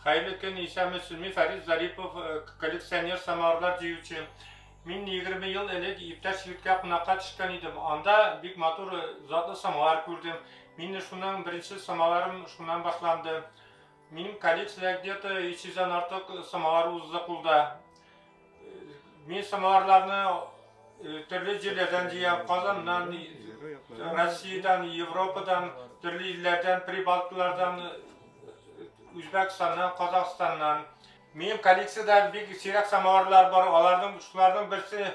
Хәйле көн исә мөслими Фәрид Зарипов э, коллекционер самарлар җыючы. Мин 20 ел элек иптәш егеткә кунакка төшкән идем. Анда бик матур э, затлы самалар күрдем. Мин шуның беренче самаларым шуннан башланды. Минем коллекциядә где-то 300 дан артык самалар узды кулда. Мин самоварларны э, төрле җирләрдән җыям, Казаннан, Россиядән, Европадан, төрле илләрдән, Прибалтылардан, Үзбәкстаннан, Казахстаннан. Минем коллекциядә бик сирәк самоварлар бар. Аларның шуларның берсе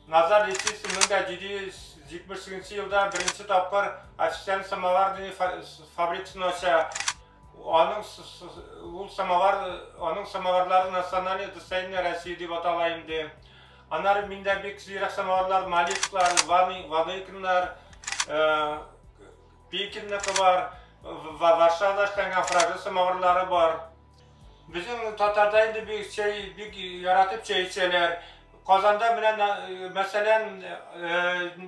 Назар Лисицы 1778 елда беренче тапкыр официаль самовар дигән фабрикасын ача. Аның ул самовар, аның самоварлары национальный достояние России дип атала инде. Анар миндә бик сирәк самоварлар, малисклар, ваны, ваныкиннар, э, пекинныкы бар, Варшавада эшләнгән фраза самоварлары бар. Безнең татарда инде бик чәй, бик яратып чәй эчәләр. Казанда белән мәсәлән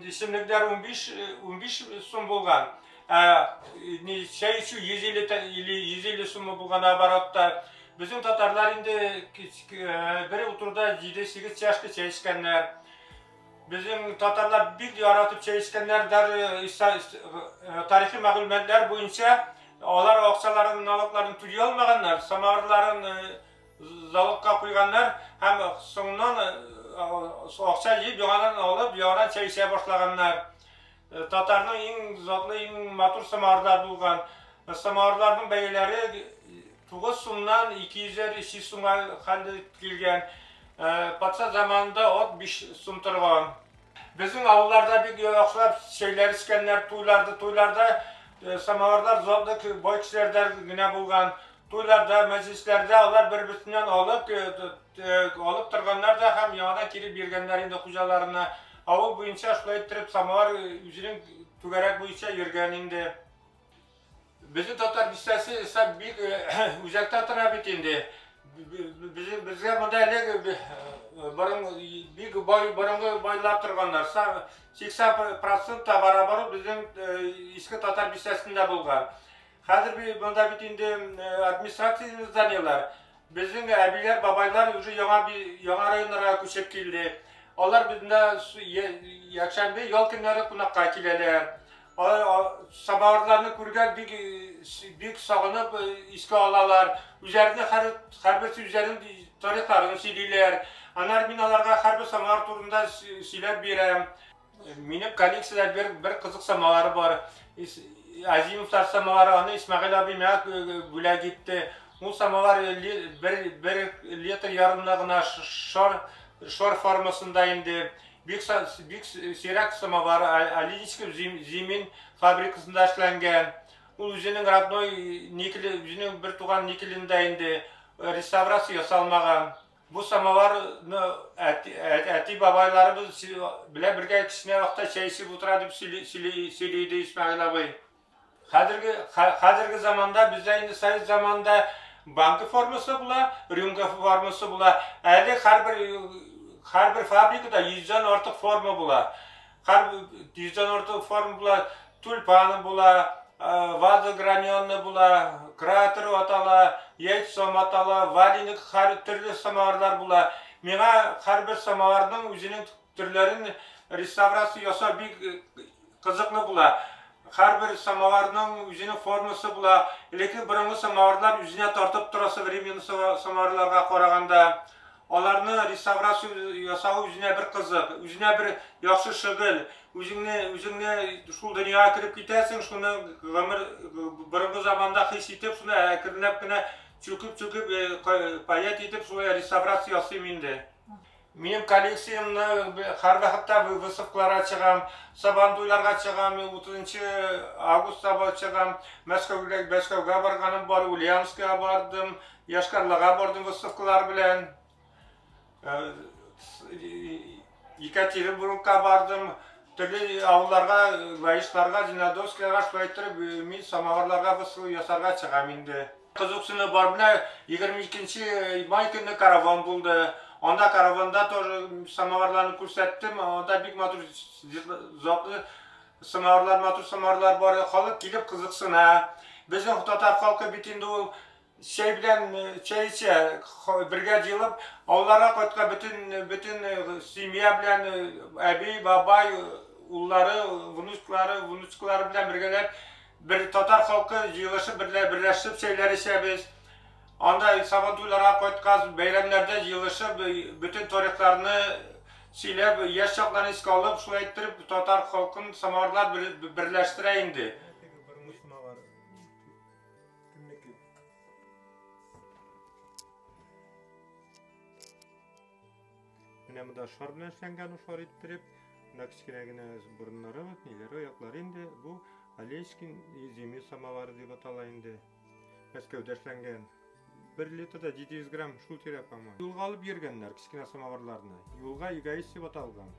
исемлекләр 15 15 сум булган. Ә ни чәй эчү 150 тә- или 150 сумы булган оборотта. Безнең татарлар инде кич- к- э, бер утыруда 7-8 чашка чәй эчкәннәр. Безнең татарлар бик яратып чәй эчкәннәр, даже иса- ис- э, тарихи мәгълүматлар буенча алар акчаларын, налогларын түли алмаганнар, самавырларын э, з- залогка куйганнар һәм соңыннан э, акча җыеп яңадан алып, яңадан чәй эчә башлаганнар. Татарның иң затлы, иң матур самавырлар булган. Самавырларның бәяләре 9 сумнан 200-әр, 300 сумга хәлдә килгән. Патша заманында от 5 сум торган. Безнең авылларда бик яхшылап чәйләр эчкәннәр, туйларда, туйларда самавырлар затлы бай кешеләрдә генә булган. Туйларда, мәҗлесләрдә алар бер-берсеннән алып, алып торганнар да һәм яңадан кире биргәннәр инде хуҗаларына. Авыл буенча шулай иттереп самовар үзенең түгәрәк буенча йөргән инде. Безнең татар бистәсе исә бик үзәктә тора бит инде. Безгә монда элек борын бик бай борынгы байлар торганнар. 80% та барабар безнең иске татар бистәсендә булган. Хәзер бит монда бит инде администрация зданиеләр. Безнең әбиләр, бабайлар уже яңа яңа районнарга күчеп килде. Алар бездә якшәмбе, ял көннәре кунакка киләләр. Самаварларны күргән бик бик сагынып искә алалар. Үзләренең һәр һәрберсе үзләренең тарихларын сөйлиләр. Аннары мин аларга һәрбер самавар турында сөйләп бирәм. Минем коллекциядә бер бер кызык самалары бар. Азимов самалары, аны Исмәгыйль абый миңа бүләк итте. Ул самалар бер бер литр ярымда гына шар шар формасында инде. Бик бик сирәк самалар Алинский зимин фабрикасында эшләнгән. Ул үзенең родной никеле, үзенең бер туган никелендә инде реставрация ясалмаган. Бу самоварны әти-бабайларыбыз белән бергә кечкенә вакытта чәй эчеп утыра дип сөйли иде Исмәгыйль абый. Хәзерге заманда бездә инде совет заманында банка формасы була, рюмка формасы була. Әле һәрбер фабрикада йөздән артык форма була. Һәм йөздән артык форма була, тюльпаны була, ваза граненная була, кратер атала, яйцо матала, валеник, һәр төрле самоварлар була. Миңа һәрбер самоварның үзенең төрләрен реставрация ясау бик кызыклы була. Һәрбер самоварның үзенең формасы була. Элекке борынгы самоварлар үзенә тартып тора современный самоварларга караганда. Аларны реставрация ясау үзенә бер кызык, үзенә бер яхшы шөгыль. Үзеңне, үзеңне шул дөньяга кереп китәсең, шуны гомер, борынгы заманда хис итеп, шуны әкренләп кенә чүкеп-чүкеп, паять итеп, шулай реставрация ясыйм инде. Минем коллекциямне һәрвакытта выставкаларга чыгам, Сабантуйларга чыгам, 30 августта чыгам, Мәскәүгә, Мәскәүгә барганым бар, Ульяновскига бардым, Йошкар-Лага бордың остовкылары белән Екатеринбургка бардым, төрле авылларга, Ваишларга, Зеленодольскига шулай иттереп мин самоварларга бысу ясарга чыгам инде. Кызыксыну бар, менә 22 май көнне караван булды. Анда караванда тоже самоварларны күрсәттем, анда бик матур затлы самоварлар, матур самоварлар бар, халык килеп кызыксына. Безнең татар халкы бит инде ул Чәй белән чәй эчә, бергә җыелып, авылларга кайткан бөтен, бөтен семья белән, әби, бабай, уллары, внучкалары, внучкалары белән бергәләп, бер татар халкы җыелышып, берлә, берләшеп чәйләр эчәбез. Анда Сабантуйларга кайткач, бәйрәмнәрдә җыелышып, бөтен тарихларны сөйләп, яшь чакларны искә алып, шулай иттереп, татар халкын самоварлар берләштерә инде. Кемнеке? Менә монда шар белән эшләнгән ул шар иттереп, мына кечкенә генә борыннары, вот ниләре, аяклары инде. Бу Олешкин зимний самовар дип атала инде. Мәскәүдә эшләнгән. 1 литрда 700 грамм шул тирә, по-моему. Юлга алып йөргәннәр кечкенә самоварларны. Юлга эгоист дип аталган.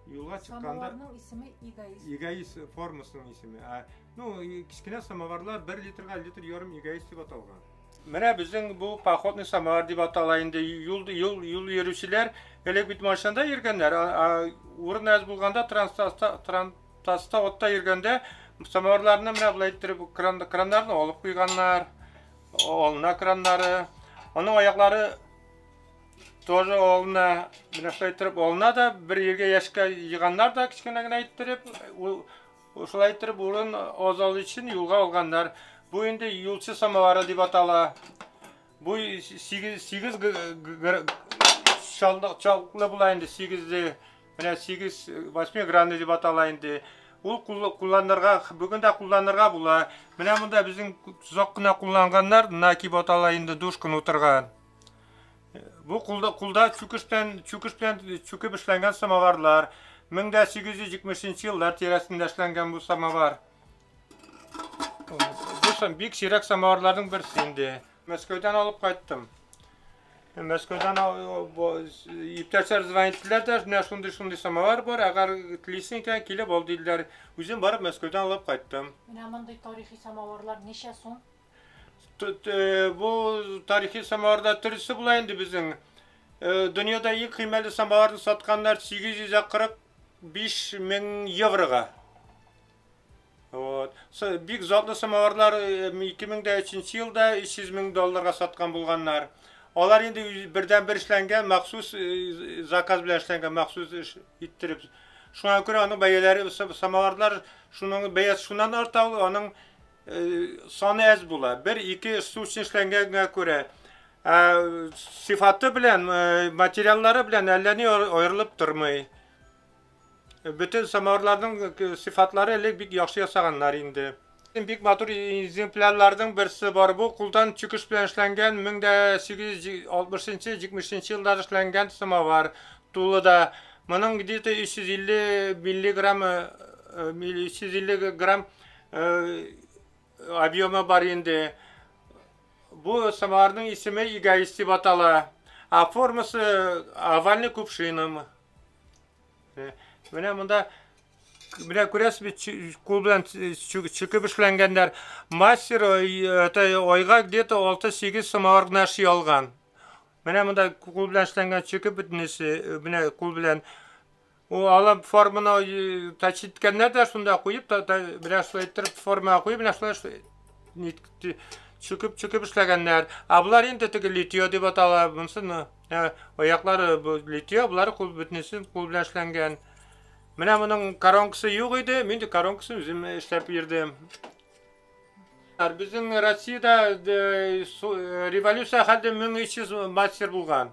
Юлга чыкканда Самоварның исеме эгоист. Эгоист формасының исеме. Ә Ну, кечкенә самоварлар бер литрга литр ярым эгоист дип аталган. Менә безнең бу походный самовар дип атала инде. Юл юл юл йөрүчеләр элек бит машинада йөргәннәр, а урын әз булганда транспортта транспортта отта йөргәндә самоварларны менә болай иттереп кран краннарны алып куйганнар. Олна краннары. Аның аяклары тоже олна. Менә шулай иттереп олна да бер ергә яшькә җыйганнар да кечкенә генә иттереп Ушулай иттереп урын азалу өчен юлга алганнар. Бу инде юлчы самовары дип атала. Бу 8 8 чалдык чалкны була инде 8-ле. Менә 8 8 гранны дип атала инде. Ул кулланырга бүген дә кулланырга була. Менә монда безнең зак кына кулланганнар, наки батала инде душкын утырган. Бу кулда кулда чүкештән чүкеш белән чүкеп эшләнгән самоварлар. 1870 еллар тирәсендә эшләнгән бу самовар. Бу бик сирәк самоварларның берсе инде. Мәскәүдән алып кайттым. Мәскәүдән иптәшләр звонить иттеләр дә, менә шундый шундый самовар бар, әгәр телисең икән, килеп ал диделәр. Үзем барып Мәскәүдән алып кайттым. Менә мондый тарихи самоварлар ничә сум? Э, бу тарихи самаварда төрлесе була инде безнең. Э, дөньяда иң кыйммәтле самаварны сатканнар 845 мең еврога. Вот. Бик затлы самаварлар 2003 э, елда 300 мең долларга саткан булганнар. Алар инде бердән бер эшләнгән, махсус заказ белән эшләнгән, махсус иттереп. Шуңа күрә аның бәяләре самаварлар шуның бәясе шуннан арта, аның Э, саны әз була. Бер-ике стучный эшләнгәнгә күрә, ә сифаты белән, э, материаллары белән әллә ни аерылып тормый. Бөтен самавырларның э, сифатлары элек бик яхшы ясаганнар инде. Бик матур экземплярларның берсе бар бу, кулдан чүкеш белән эшләнгән 1860-70 еллар эшләнгән самавар тулы да. Моның где-то 350 миллиграмм 350 грамм Объемы бар инде. Бу самоварның исеме эгоист дип атала. А формасы овальный кувшиным. Менә монда менә күрәсез бит кул белән чүкеп эшләнгәннәр. Мастер айга где-то 6-8 самовар гына эшли алган. Менә монда кул белән эшләнгән чүкеп бөтенесе, менә кул белән Ул алып форманы тач иткәндә дә шунда куеп, та, та, менә шулай иттереп формага куеп, менә шулай чүкеп чүкеп эшләгәннәр. Ә болар инде теге литье дип атала. Монсы аяклары литье, болар кул бөтенесе кул белән эшләнгән. Менә моның коронкасы юк иде, мин дә коронкасын үзем эшләп бирдем. Безнең Россиядә революция хәлдә 1300 мастер булган.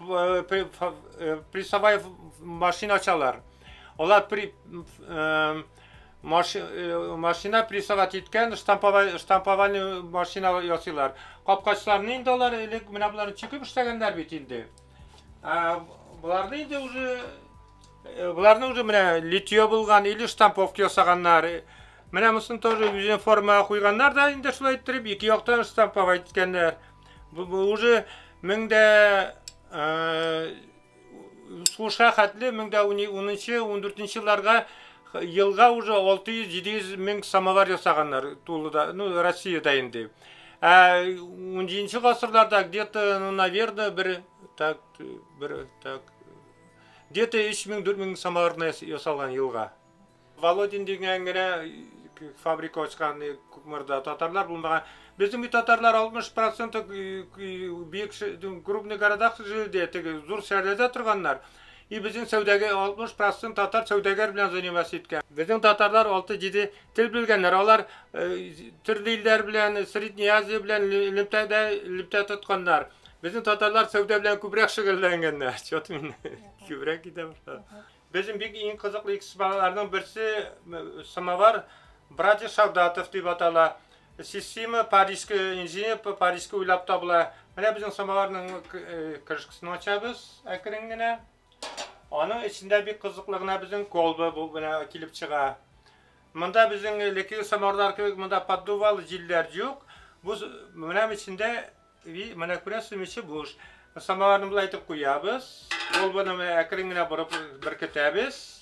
Э, при, э, приставай машина ачалар. Алар при, э, маши, э, машина приставать иткән штамповай, штамповальный машина ясыйлар. Капкачларны инде алар элек менә болар чекеп эшләгәннәр бит инде. Ә, боларны инде уже э, боларны уже менә литье булган или штамповка ясаганнар. Менә мосын тоже үзен формага куйганнар да инде шулай иттереп ике яктан штамповать иткәннәр. Бу, бу уже мең дә сулышка хәтле мең дә унынчы ундүртенче елларга елга уже алты йөз җиде йөз мең самовар ясаганнар тулыда ну россияда инде ә ун җиденче гасырларда где то ну наверное бер так бер так где то өч мең дүрт мең самовар ясалган елга Володин дигән генә фабрика ачкан Кукмарда татарлар булмаган. Безнең бит татарлар 60% бик крупный города җирдә, теге зур шәһәрләрдә торганнар. И безнең сәүдәгә 60% татар сәүдәгәр белән заниматься иткән. Безнең татарлар 6-7 тел белгәннәр. Алар төрле илләр белән, Средняя Азия белән элемтәдә элемтә тотканнар. Безнең татарлар сәүдә белән күбрәк шөгыльләнгәннәр. Чё ты мине күбрәк китә башладың. Безнең бик иң кызыклы экспоналарның берсе самовар братья Шагдатов дип атала. Система парижский инженер парижский уйлап табыла. Менә безнең самоварның крышкасын ачабыз әкрен генә. Аның эчендә бик кызыклы гына безнең колба бу белән килеп чыга. Монда безнең леки самоварлар кебек монда поддувал җилләр юк. Бу менә эчендә И менә күрәсезме, эче буш. Самоварны болай итеп куябыз. Ул буны менә әкрен генә борып беркетәбез.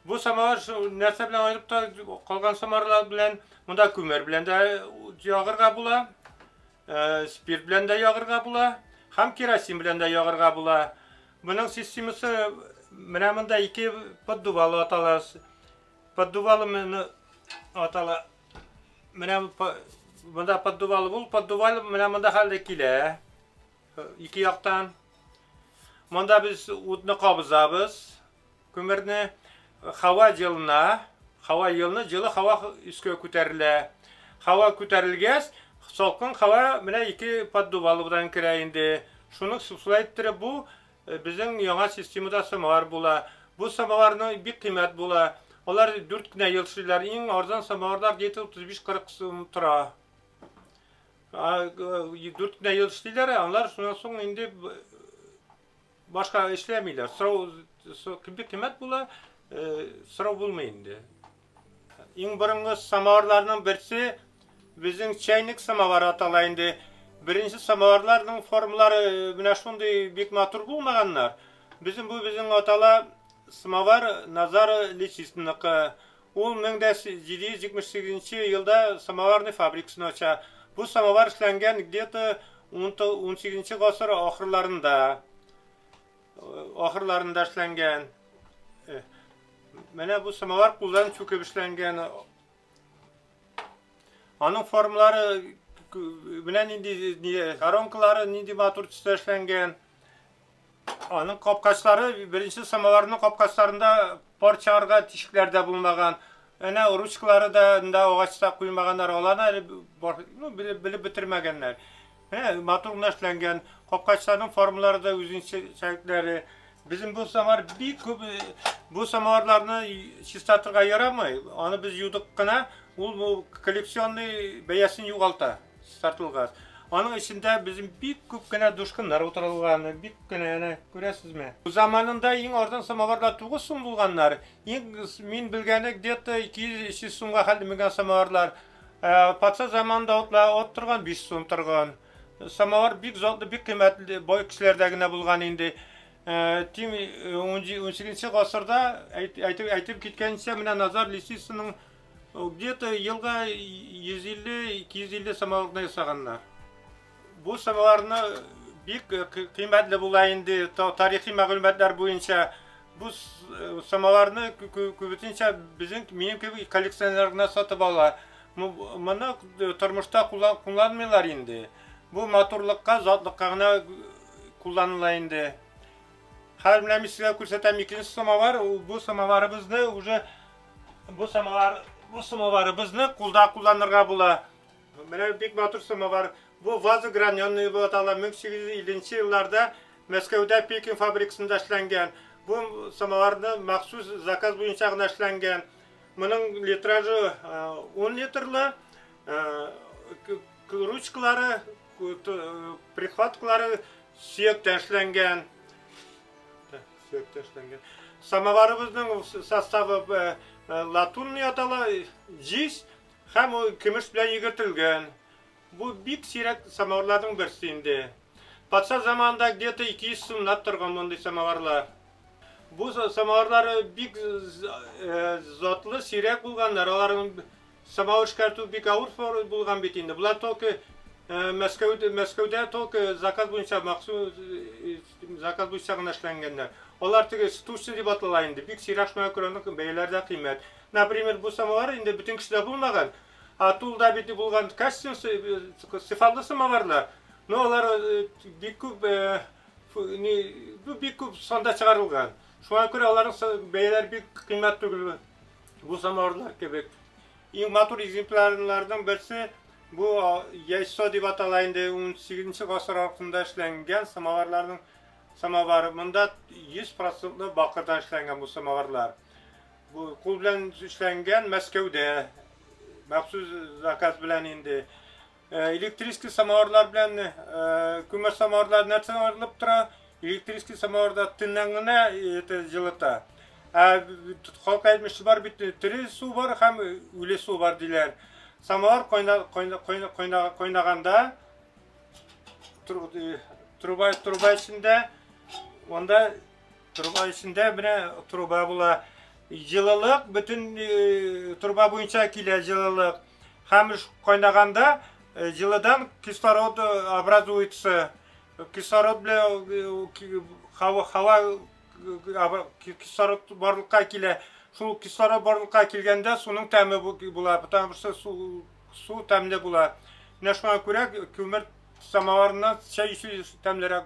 Бу самовар нәрсә белән аерып та калган самоварлар белән, монда күмер белән дә ягырга була, э, спирт белән дә ягырга була, һәм керосин белән дә ягырга була. Моның системасы менә монда ике поддувалы атала. Поддувалы атала. Менә монда поддувал бул, поддувал менә монда хәлдә килә. Ике яктан. Монда без утны кабызабыз, күмерне хава җылына, хава елны җылы хава өскә күтәрелә. Хава күтәрелгәс, салкын хава менә ике поддувалыбыдан керә инде. Шуны сусла иттереп бу Безнең яңа системада самовар була. Бу самоварны бик кыйммәт була. Алар дүрт кенә ел эшлиләр. Иң арзан самоварлар где-то 35-40 сум тора. Дүрт кенә ел эшлиләр, алар шуннан соң инде башка эшләмиләр. Сорау бик кыйммәт була, сорау булмый инде. Иң борынгы самоварларның берсе безнең чәйник самовар атала инде. Беренче самоварларның формалары менә шундый бик матур булмаганнар. Безнең бу безнең атала самовар Назар Лисицынныкы. Ул 1778 елда самоварный фабрикасын ача. Бу самовар эшләнгән где-то 18 гасыр ахырларында. Ахырларында эшләнгән. Э, менә бу самовар кулдан чүкеп эшләнгән. Аның формалары менә нинди коронкалары нинди матур төстә эшләнгән. Аның капкачлары беренче самоварның капкачларында пар чыгарга тишекләр дә булмаган. Әнә ручкалары да анда агачта куймаганнар, аланы әле ну, белеп, белеп бетермәгәннәр. Ә, матур гына эшләнгән. Капкачларның формалары да үзенчәлекләре. Безнең бу самар бик күп э, бу самарларны чистартырга ярамый. Аны без юдык кына, ул бу коллекционный бәясен югалта чистартылган. Аның эчендә безнең бик күп кенә душкыннар утырылган, бик кенә әнә күрәсезме? Заманында иң арзан самоварлар 9 сум булганнар. Иң мин белгәне где-то 200-300 сумга хәл менгән самоварлар. Ә, патша заманында утла от торган 5 сум торган. Самовар бик затлы, бик кыйммәтле бай кешеләрдә генә булган инде. Ә, тим 18 гасырда әйтеп әйтеп киткәнчә менә Назар Лисицынның где-то елга 150-250 самоварны ясаганнар. Бу сырларны бик э, кыйммәтле була инде тарихи мәгълүматлар буенча. Бу э, самаларны күбесенчә безнең минем кебек коллекционер гына сатып ала. Моны э, тормышта кулланмыйлар инде. Бу матурлыкка, затлыкка гына кулланыла инде. Хәзер менә мин сезгә күрсәтәм икенче самовар. Бу самоварыбызны уже бу самовар бу самоварыбызны кулда кулланырга була. Менә бик матур самовар. Бу ваза граненная дип атала. 1850 нче елларда Мәскәүдә Пекин фабрикасында эшләнгән. Бу самоварны махсус заказ буенча гына эшләнгән. Моның литражы ун литрлы, ручкалары, прихваткалары сөяктән эшләнгән. Сөяктән эшләнгән. Самоварыбызның составы латунный атала, җиз, Һәм ул көмеш белән йөгертелгән. Бу бик сирәк самавырларның берсе инде. Патша заманында где-то 200 сумнап торган мондый самавырлар. Бу самавырлар бик затлы, сирәк булганнар. Аларның самавыр эшкәртү бик авыр булган бит инде. Болар только Мәскәүдә, Мәскәүдә только заказ буенча махсус заказ буенча гына эшләнгәннәр. Алар теге штучный дип атала инде. Бик сирәк шуңа күрә аның бәяләре дә кыйммәт. Например, бу самовар инде бөтен кешедә булмаган, ә тулда бит булган костюм сыфатлы самоварлар. Но алар бик күп бу бик күп санда чыгарылган. Шуңа күрә аларның бәяләре бик кыйммәт түгел бу самоварлар кебек. Иң матур экземплярларның берсе бу яйсо дип атала инде 18 гасыр аркында эшләнгән самоварларның самовары. Монда 100% бакырдан эшләнгән бу самоварлар. Бу кул белән эшләнгән Мәскәүдә махсус заказ белән инде. Э, электрический самоварлар белән э, күмер самоварлар нәрсә арылып тора. Электрический самоварда төннән генә это җылыта. Ә халык әйтмеше бар бит, тере су бар һәм үле су бар диләр. Самовар кайнаганда труба труба эчендә монда Труба эчендә менә труба була. Җылылык бөтен э, труба буенча килә җылылык. Һәм кайнаганда э, җылыдан кислород э, образуется. Кислород белән һава һава кислород барлыкка килә. Шул кислород барлыкка килгәндә суның тәме була, потому что су су тәмле була. Менә шуңа күрә күмер самоварыннан чәй эчү тәмлерәк.